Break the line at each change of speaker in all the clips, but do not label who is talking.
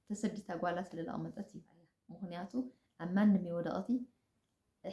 ተሰዲታ ጓላ ስለ ለቐመጠት እዩ ምክንያቱ ኣብ ማንም እዩ ወደቐቲ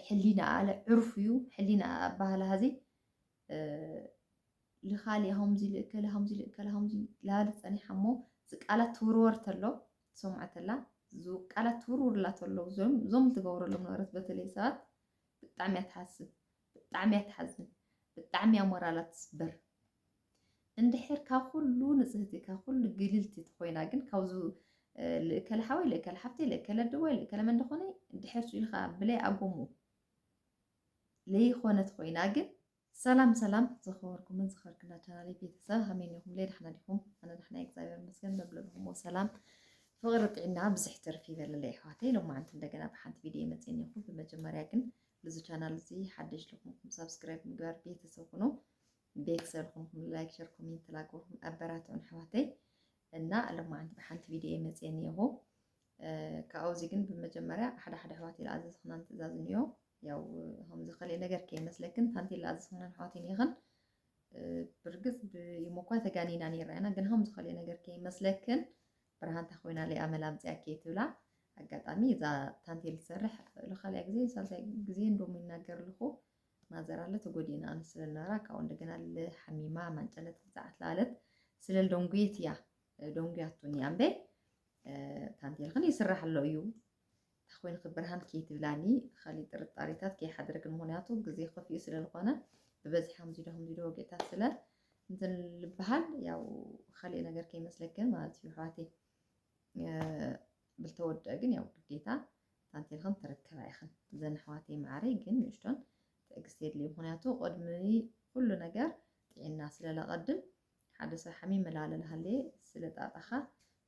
ሕሊና ኣለ ዕርፍ እዩ ሕሊና ኣብ ባህላ ሀዚ ልኻሊ ከምዚ ልእከለ ከምዚ ልእከለ ከምዚ ላበለ ፀኒሓ እሞ ቃላት ትውርወር ተሎ ትሰምዖ ተላ ቃላት ትውርውርላ ተሎ እዞም ዝገብረሎም ነበረት በተለይ ሰባት ብጣዕሚ እያ ትሓስብ ብጣዕሚ እያ ትሓዝን ብጣዕሚ እያ ሞራላ ትስበር እንድሕር ካብ ኩሉ ንጽህቲ ካብ ኩሉ ግልልቲ ተኮይና ግን ካብዚ ልእከለ ሓወይ ልእከለ ሓፍተይ ልእከለ ኣደቦይ ልእከለ መን ደኾነ ድሕርሱ ኢልካ ብለይ ኣጎሙ ለይኾነት ኮይና ግን ሰላም ሰላም ዝኸበርኩምን ዝኸርክና ቻናል ቤተሰብ ከመይ ኒኹም ለይ ዳሕና ዲኹም ኣነ ዳሕና እግዚኣብሔር መስገን በብለብኹምዎ ሰላም ፍቕሪ ጥዕና ብዝሕ ትርፍ ይበለለይ ኣሕዋተይ ሎማዓንቲ እንደገና ብሓንቲ ቪድዮ መፅን ይኹ ብመጀመርያ ግን ልዚ ቻናል እዚ ሓደሽ ልኹንኩም ሳብስክራይብ ምግባር ቤተሰብ ኩኑ ቤተሰብ ልኹንኩም ላይክ ሸር ኮሜንት ላግበኩም ኣበራትዑን ኣሕዋተይ እና ለማዓንቲ ብሓንቲ ቪድዮ እየ መፅየ እኒአኹ ካብዚ ግን ብመጀመርያ ሓደ ሓደ ኣሕዋት ዝኣዘዝኽናን ትእዛዝ እኒኦ ያው ከምዚ ከሊእ ነገር ከይመስለክን ታንቲ ዝኣዘዝኽናን ኣሕዋት እኒእኽን ብርግፅ ብኢሞ እኳ ተጋኒና ነይራ ኢና ግን ከምዚ ከሊእ ነገር ከይመስለክን ብርሃን ተኾይና ሊኣ መላ ኣምጺኣኪ ትብላ ኣጋጣሚ እዛ ታንቴል ትሰርሕ ልካልያ ግዜን ሳልሳይ ግዜን ዶሞ ይናገር ልኹ ማዘር ኣለ ተጎዲእና ኣነ ስለልነበራ ካብኡ እንደገና ልሓሚማ ማንጨለት ብዛዓት ለኣለት ስለል ዶንጉየት እያ ዶንጉያቱን እያ እምበይ ታንቴልኽን ይስራሕ ኣሎ እዩ ተኽዊልኺ ብርሃን ከይትብላኒ ኻሊእ ጥርጣሪታት ከይሓድርግን ምኽንያቱ ግዜ ኸፊኡ ስለ ልኾነ ብበዝሒ ከምዚዶ ከምዚዶ ወግእታት ስለ እንትን ልበሃል ያው ኻሊእ ነገር ከይመስለክን ማለት እዩ ኣሕዋተይ ብልተወድአ ግን ያው ግዴታ ታንቴልኽን ትረከባ ኢኽን እዘን ኣሕዋተይ መዓረይ ግን ንእሽቶን ትዕግስቲ የድልዩ ምኽንያቱ ቅድሚ ኩሉ ነገር ጥዒና ስለለቐድም ሓደ ሰብ ሓሚመ ላለ ላሃለየ ስለ ጣጣኻ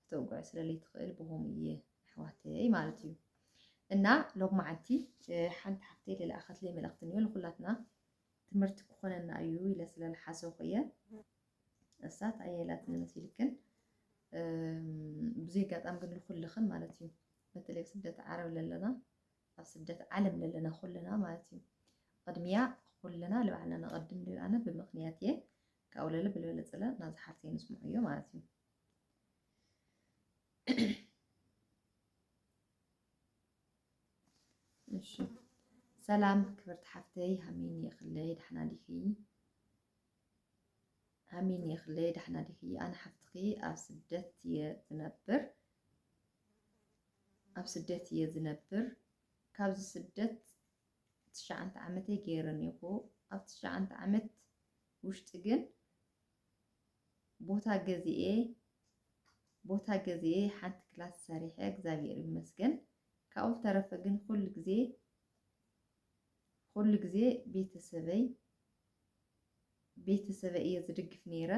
ክተውግዖ ስለ ለይትኽእል ብኸምኡ እየ ኣሕዋተይ ማለት እዩ እና ሎማዓንቲ ሓንቲ ሓፍተይ ለለኣኸትለይ መልእኽቲ እኒኦ ንኩላትና ትምህርቲ ክኾነና እዩ ኢለ ስለ ልሓሰኹ እየ እሳት ኣየላትን መሲልክን ብዙይ ኣጋጣሚ ግን ልኩልኽን ማለት እዩ በተለይ ኣብ ስደት ዓረብ ለለና ኣብ ስደት ዓለም ለለና ኩልና ማለት እዩ ቅድሚያ ኩልና ልባዕልና ነቐድም ልኣነ ብምክንያት እየ ካብኡ ለለ ብልበለ ፅለ ናብዚ ሓርተይ ንስምዑ እዮ ማለት እዩ እሺ ሰላም ክብርቲ ሓፍተይ ሃሚን የኽለይ ዳሕና ዲኺ ሃሚን የኽለይ ዳሕና ዲኺ ኣነ ሓፍትኺ ኣብ ስደት እየ ዝነብር ኣብ ስደት እየ ዝነብር ካብዚ ስደት ትሽዓንተ ዓመተይ ገይረን ይኹ ኣብ ትሽዓንተ ዓመት ውሽጢ ግን ቦታ ገዚኤ ቦታ ገዚኤ ሓንቲ ክላስ ሰሪሐ እግዚኣብሔር ይመስገን ካብኡ ዝተረፈ ግን ኩሉ ግዜ ኩሉ ግዜ ቤተሰበይ ቤተሰበይ እየ ዝድግፍ ነይረ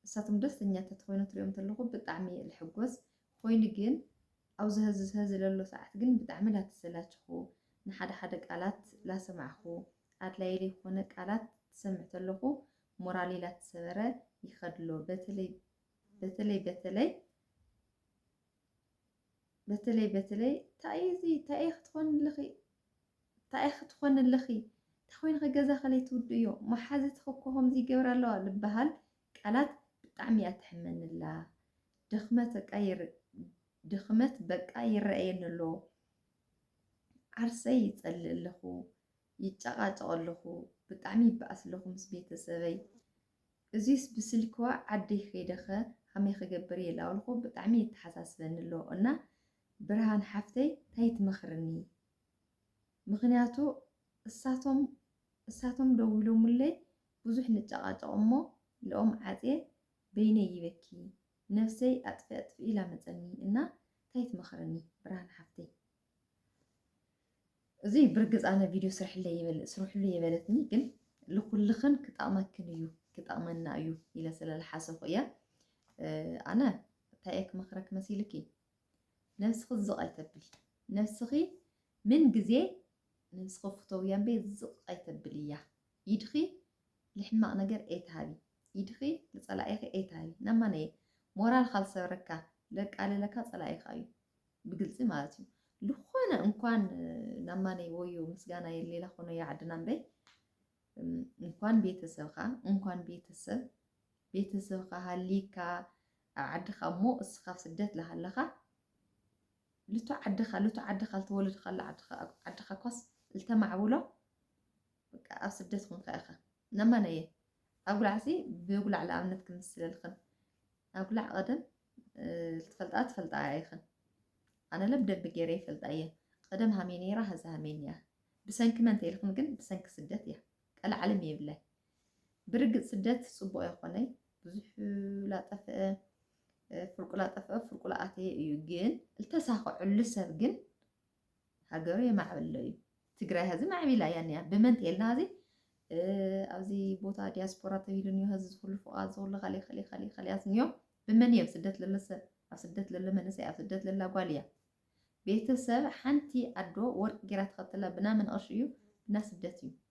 ንሳቶም ደስተኛ ተትኮይኑ ትሪኦም ተለኹ ብጣዕሚ እየ ልሕጎስ ኾይኑ ግን ኣብዚ ሀዚ ሀዚ ለሎ ሰዓት ግን ብጣዕሚ ላተሰላቸኹ ንሓደ ሓደ ቃላት ላሰማዕኹ ኣድላይ ለይኾነ ቃላት ትሰምዕ ተለኹ ሞራለይ ላተሰበረ ይኸድ ኣሎ በተለይ በተለይ በተለይ በተለይ በተለይ ታይ እዚ ታይ ክትኾንልኺ ታይ ክትኾንልኺ ታኾይንኺ ገዛ ከለይ ትውድእዮ መሓዝትኺ እኮ ከምዚ ይገብራ ኣለዋ ልበሃል ቃላት ብጣዕሚ እያ ተሕመንላ ድኽመት በቃ ድኽመት በቃ ይረኣየኒ ኣሎ ዓርሰይ ይጸልእ ኣለኹ ይጨቓጨቕ ኣለኹ ብጣዕሚ ይበኣስ ኣለኹ ምስ ቤተሰበይ እዚስ ብስልክዋ ዓደይ ከይደኸ ከመይ ክገብር እየ ላበልኩ ብጣዕሚ ይተሓሳስበኒ ኣሎ እና ብርሃን ሓፍተይ እንታይ ትመኽርኒ ምኽንያቱ እሳቶም እሳቶም ደዊሎሙለይ ብዙሕ ንጫቃጨቅ እሞ ልኦም ዓጽየ በይነይ ይበኪ ነፍሰይ ኣጥፊ ኣጥፊ ኢላ መጸኒ እና ታይ ትመኽርኒ ብርሃን ሓፍተይ እዙይ ብርግጽ ኣነ ቪድዮ ስርሕለይ ይበል ስርሕሉ የበለትኒ ግን ልኩልኽን ክጠቅመክን እዩ ክጠቅመና እዩ ኢለ ስለልሓሰኹ እየ ኣነ እንታይ እየ ክመኽረክ መሲልኪ ነብስኺ ዝቕ ኣይተብሊ ነብስኺ ምን ግዜ ነብስኺ ፍተውያ እምበይ ዝቕ ኣይተብልያ ኢድኺ ልሕማቕ ነገር ኣይትሃቢ ኢድኺ ልጸላኢኺ ኣይትሃቢ ናብ ማነየ ሞራልካ ዝሰብረካ ለቃልለካ ጸላኢኻ እዩ ብግልጺ ማለት እዩ ልኾነ እንኳን ናብ ማነይ ወዮ ምስጋና የሌላ ኾኖ ያዕድና እምበይ እንኳን ቤተሰብካ እንኳን ቤተሰብ ቤተሰብካ ሃሊካ ኣብ ዓድኻ እሞ እስኻ ኣብ ስደት ልሃለኻ ልቱ ዓድኻ ልቱ ዓድኻ ልተወለድኻ ኣሎ ዓድኻ ኳስ ልተማዕብሎ በቃ ኣብ ስደት ኹንካ ኢኻ ነማን እየ ኣጉላዕሲ ብጉላዕ ልኣብነት ክምስለልኽን ኣጉላዕ ቀደም ልትፈልጣ ትፈልጣ ኢኽን ኣነ ለ ብደንቢ ገይረ ይፈልጣ እየ ቀደም ሃሜ ነይራ ሀዚ ሃሜን እያ ብሰንኪ መን ተይልኽን ግን ብሰንኪ ስደት እያ ቀልዓለም የብላይ ብርግጽ ስደት ጽቡቅ ኣይኮነይ ብዙሕ ላጠፍአ ፍርቁ ላጠፍአ ፍርቁ ላኣተየ እዩ ግን ልተሳኸዐሉ ሰብ ግን ሃገሩ የማዕብሎ እዩ ትግራይ ሀዚ ማዕቢላ እያ ኒያ ብመን ተልና ሀዚ ኣብዚ ቦታ ዲያስፖራ ተብሂሉ እኒኦ ሀዚ ዝኹሉ ፍቓድ ዝኹሉ ኸሌ ኸሌ ኸሌ ኸሌያት እኒኦ ብመን እየ ኣብ ስደት ለሎ ሰብ ኣብ ስደት ለሎ መንእሰይ ኣብ ስደት ለላ ጓል እያ ቤተሰብ ሓንቲ ኣዶ ወርቂ ጌራ ተኸተላ ብና መንቐሽ እዩ ብና ስደት እዩ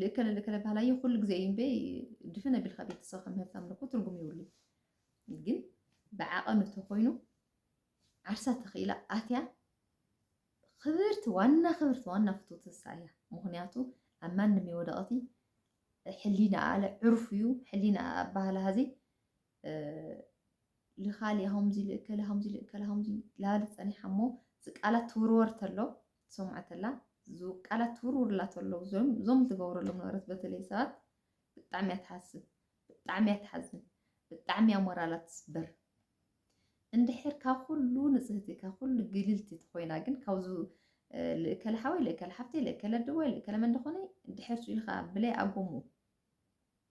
ልእከለ ልእከለ ባህላየ ኩሉ ግዜ እዩ እምበይ ድፍን ኣቢልካ ቤተሰብ ከም ምህብት ኣምልኮ ትርጉም ይብሉ ግን ብዓቐኑ ተኮይኑ ዓርሳ ተኽኢላ ኣትያ ክብርቲ ዋና ክብርቲ ዋና ፍትውቲ ንሳ እያ ምክንያቱ ኣብ ማንም የወደቐቲ ሕሊና ኣለ ዕርፍ እዩ ሕሊና ኣባህላ ህዚ ልኻሊ ሃምዚ ልእከለ ሃምዚ ልእከለ ሃምዚ ላባዲ ጸኒሓ እሞ ዝቃላት ትውርወር ተሎ ትሰምዖ ተላ ዝቃላት ትውርውርላ ተሎ ዞም ዝገብረሎም ነበረት በተለይ ሰባት ብጣዕሚ እያ ትሓስብ ብጣዕሚ እያ ትሓዝን ብጣዕሚ እያ ሞራላ ትስበር እንድሕር ካብ ኩሉ ንጽህቲ ካብ ኩሉ ግልልቲ ተኮይና ግን ካብዚ ልእከለ ሓወይ ልእከለ ሓፍተይ ልእከለ ድቦይ ልእከለ መን ድኾነ ድሕር ኢልካ ብለይ ኣጎሙ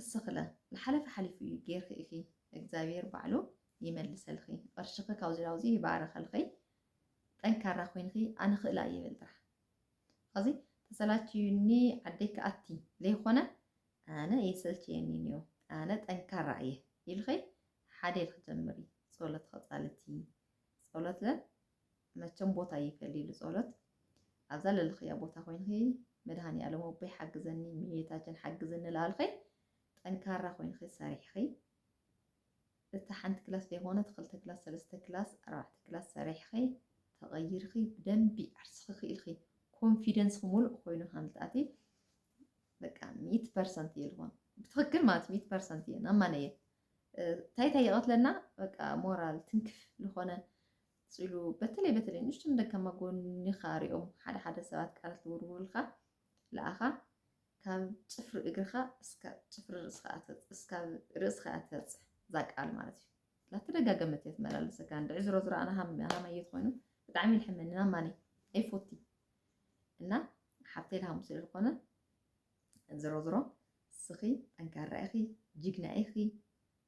እስኽለ ልሓለፈ ሓሊፉ እዩ ገይርኺ ኢኺ እግዛብሄር ባዕሉ ይመልሰልኺ ቕርሽኺ ካብዚ ናብዚ ይባርከልኺ ጠንካራ ኮይንኺ ኣነ ኽእላ እየ በሊ ጥራሕ ኸዚ ተሰላችዩኒ ዓደይ ክኣቲ ዘይኾነ ኣነ የሰልቸየኒ እኒኦ ኣነ ጠንካራ እየ ኢልኺ ሓደ ኢልኺ ጀምሪ ጸሎት ኸጻልቲ ጸሎት ለ መቸም ቦታ ይፈሊ ኢሉ ጾሎት ኣብ ዘለልኽያ ቦታ ኮይንኺ መድሃኒኣለም ኣቦይ ሓግዘኒ እመቤታችን ሓግዝኒ ላልኺ ጠንካራ ኮይንኺ ሰሪሕኺ እቲ ሓንቲ ክላስ ዘይኮነት ክልተ ክላስ ሰለስተ ክላስ ኣርባዕተ ክላስ ሰሪሕኺ ተቐይርኺ ብደንቢ ዓርስኺ ክኢልኺ ኮንፊደንስኺ ሙሉእ ኮይኑ ከም ዝትኣቲ በቃ ሚእቲ ፐርሰንት እየ ልኾን ብትኽክል ማለት ሚእቲ ፐርሰንት እየ ናማነ እየ ታይ ታይ ይቐትለና በቃ ሞራል ትንክፍ ዝኾነ ፅሉ በተለይ በተለይ ንእሽቶ ንደካማ ጎኒኻ ሪኦም ሓደ ሓደ ሰባት ቃላት ዝውርውሩልካ ለኣኻ ካብ ፅፍሪ እግርኻ እስካብ ፅፍሪ ርእስኻ እስካብ ርእስኻ እያ ትበፅሕ እዛ ቃል ማለት እዩ ላተደጋገመት እየ ትመላለሰካ እንድዒ ዝሮ ዝሮ ኣነ ሃማየ ትኮይኑ ብጣዕሚ ልሕመኒ ናማኒ ኣይፎቲ እና ሓብተይ ልሃሙ ስለ ዝኾነ ዝሮዝሮ እስኺ ጠንካራ ኢኺ ጂግና ኢኺ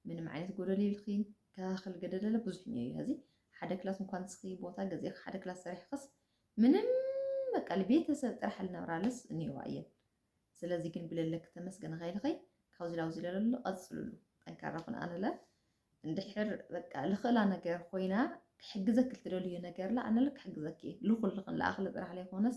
ምንም ዓይነት ጎደል ይብልኺ ከኻኽል ገደለለ ብዙሕ እኒኦ እዩ ሀዚ ሓደ ክላስ እንኳን ንስኺ ቦታ ገዚእኺ ሓደ ክላስ ሰሪሕኽስ ምንም በቃ ልቤተሰብ ጥራሕ ልነብራለስ እኒኦዋ እየን ስለዚ ግን ብለለክ ተመስገን ኸይልኸይ ካብዚ ላብዚ ለለሉ ቀፅልሉ ጠንካራ ኩን ኣነለ እንድሕር በቃ ልኽእላ ነገር ኮይና ክሕግዘክ ልትደልዮ ነገርላ ኣነለ ክሕግዘክ እየ ልኹልኽን ለኣኽለ ጥራሕ ለይኮነስ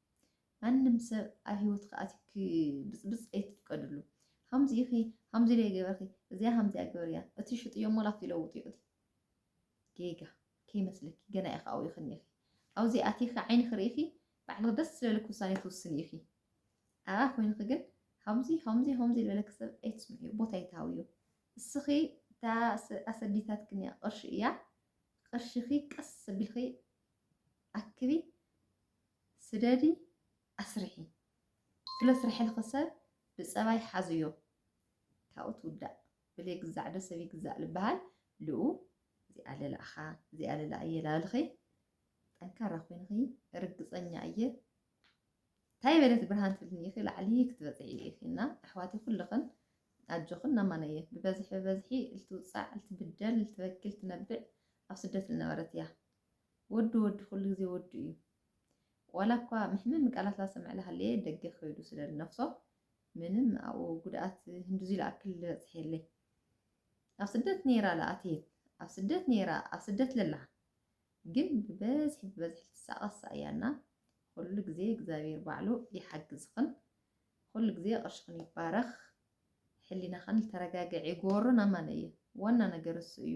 ማንም ሰብ ኣብ ሂወትኪ ኣትዩ ክብጽብጽ ኣይትፍቀድሉ። ከምዚ ኢኺ ከምዚ ኢለ ገበርኪ እዚኣ ከምዚኣ ግበርያ እቲ ሽጥዮ እሞ ላብቲ ይለውጥዮ እቲ ጌጋ ከይመስለኪ ገና ኢኺ ኣብኡ ኢኺ እኒኢኺ ኣብዚ ኣቲኺ ዓይንኺ ርኢኺ ባዕልኺ ደስ ዝበለኪ ውሳኔ ትውስኒ ኢኺ ኣብኣ ኮይንኺ ግን ከምዚ ከምዚ ከምዚ ዝበለኪ ሰብ ኣይትስምዕዮ ቦታ ኣይትሃብዮ እስኺ እታ ኣሰዲታትክን እያ ቅርሺ እያ ቅርሽኺ ቀስ ኣቢልኺ ኣክቢ ስደዲ ኣስርሒ ስለ ስርሕልኺ ሰብ ብጸባይ ሓዝዮ ካብኡ ትውዳእ ብለይ ግዛዕ ዶ ሰብ ይግዛእ ልበሃል ልኡ እዚኣ ልልኣኻ እዚኣ ልልኣ እየ ላልኺ ጠንካራ ኮይንኺ ርግጸኛ እየ እንታይ በለት ብርሃን ትብልኒ ኢኺ ላዕሊ ክትበፅዒ ኢኺ እና ኣሕዋተይ ኩልኽን ኣጆኽን ናማነየ ብበዝሒ ብበዝሒ ልትውፃዕ ልትብደል ልትበኪ ልትነብዕ ኣብ ስደት ልነበረት እያ ወዲ ወዲ ኩሉ ግዜ ወዲ እዩ ዋላ እኳ መሕመሚ ቃላት ላሰምዕ ላሃለየ ደገ ከይዱ ስለ ልነፍሶ ምንም ኣብኡ ጉድኣት ህንድዙይ ልኣክል ልበፅሕ የለይ ኣብ ስደት ነይራ ልኣተየት ኣብ ስደት ነይራ ኣብ ስደት ለላ ግን ብበዝሒ ብበዝሒ ልትሳቐሳ እያ እና ኩሉ ግዜ እግዚኣብሔር ባዕሉ ይሓግዝኽን ኩሉ ግዜ ቅርሽኽን ይባረኽ ሕሊናኽን ልተረጋገዕ ይጎርን ኣማነየ ዋና ነገር እሱ እዩ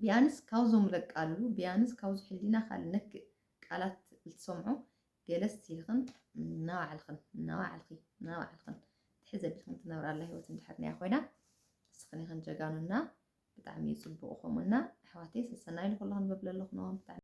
ቢያንስ ካብዞም ለቃልሉ ቢያንስ ካብዚ ሕሊናኻ ልነክእ ቃላት ልትሰምዖ ገለ ስቲልኽን ናባዕልኽን ናባዕልኺ ናባዕልኽን ትሕዝ ኣቢልኽን ትነብራላ ሂወት እንድሕር ናያ ኮይና ንስኽን ኢኽን ጀጋኑና ብጣዕሚ እዩ ፅቡቕ ከምኡና ኣሕዋተይ ሰሰናዩ ንኹልኽን በብለለኹ ነዋም ብጣዕሚ